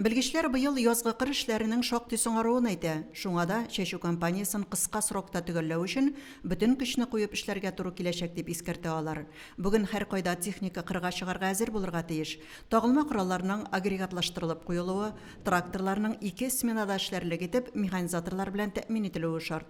Белгечләр быел язгы кыр эшләренең шактый соңаруын әйтә, шуңа да чәчү кампаниясен кыска срокта төгәлләү өчен бөтен көчне куеп эшләргә туры киләчәк, дип искәртә алар. Бүген һәркайда техника кырга чыгарга әзер булырга тиеш. Тагылма коралларның агрегатлаштырылып куелуы, тракторларның ике сменада эшләрлек итеп механизаторлар белән тәэмин ителүе шарт.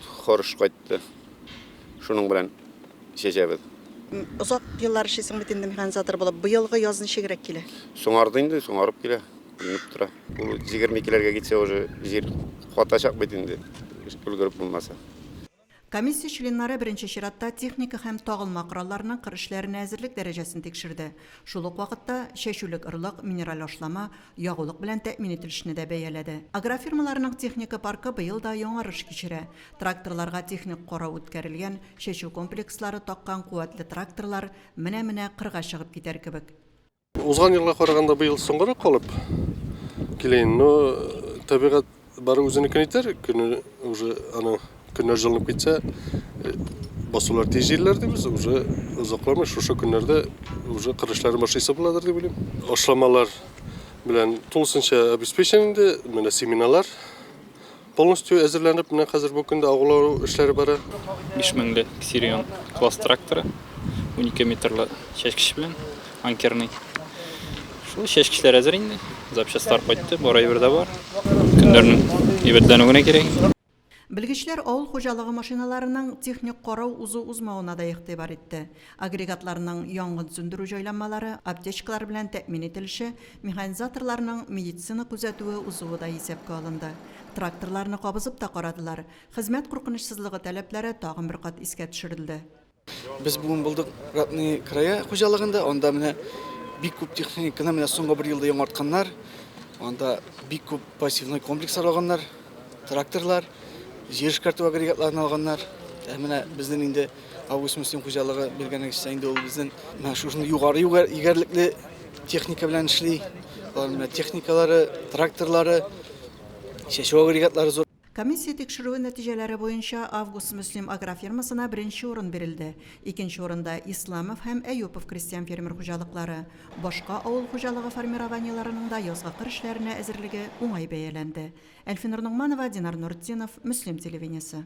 Хорш кайтты. Шуның белән чәчәбез. Озак еллар эшлисең бит инде механизатор булып. Быелгы яз ничегрәк килә? Соңарды инде, соңарып килә. Уйнап тора. Ул 22-ләргә китсә уже җир катачак бит инде, өлгереп булмаса. Комиссия членнары беренче чиратта техника һәм тагылма коралларның кыр эшләренә әзерлек дәрәҗәсен тикшерде. Шул ук вакытта чәчүлек орлык, минераль ашлама, Ягулык белән тәэмин ителешне дә бәяләде. Агрофирмаларның техника паркы быел да яңарыш кичерә. Тракторларга техник карау үткәрелгән, чәчү комплекслары таккан куәтле тракторлар менә-менә кырга чыгып китәр кебек. Узган елга караганда быел соңгарак калып килә инде, но табигать Бары үзенекен итәр, көне уже аны көннәр җылынып китсә, э, басулар тиз җилләр дибез, уже озакламый шушы көннәрдә уже кыр эшләрен башлыйсы буладыр дип уйлыйм. Ашламалар белән тулысынча обеспечен инде, менә семеналар полностью әзерләнеп, менә хәзер бу көндә агулау эшләре бара. 5 меңле Ксирион класс тракторы, 12 метрлы чәчкеч белән, анкерный. Шул чәчкечләр әзер инде. Запчастар кайтты, бар әйбер дә бар. Көннәрнең әйбәтләнү генә кирәк. Белгечләр авыл хуҗалыгы машиналарының техник карау узу-узмавына да игътибар итте. Агрегатларның янгын сүндерү җайланмалары, аптечкалар белән тәэмин ителеше, механизаторларның медицина күзәтүе узуы да исәпкә алынды. Тракторларны кабызып та карадылар. Хезмәт куркынычсызлыгы таләпләре тагын бер кат искә төшерелде. Без бүген булдык Ратный края хуҗалыгында. Анда менә бик күп техниканы менә соңгы бер елда яңартканнар. Анда бик күп пассивный комплекслар алганнар, тракторлар, җир эшкәртү агрегатларын алганнар. Ә менә безнең инде Август Мөслим хуҗалыгы билгәнегезчә инде ул безнең менә шушындый югары егәрлекле техника белән эшли. Алар менә техникалары, тракторлары, чәчү агрегатлары зур. Комиссия тикшерүе нәтиҗәләре буенча Август Мөслим агрофирмасына беренче урын бирелде, икенче урында, Исламов һәм Әюпов крестьян-фермер хуҗалыклары. Башка авыл хуҗалыгы формированиеләренең дә язгы кыр эшләренә әзерлеге уңай бәяләнде. Әлфинур Ногманова, Динар Нуретдинов, Мөслим телевидениесе.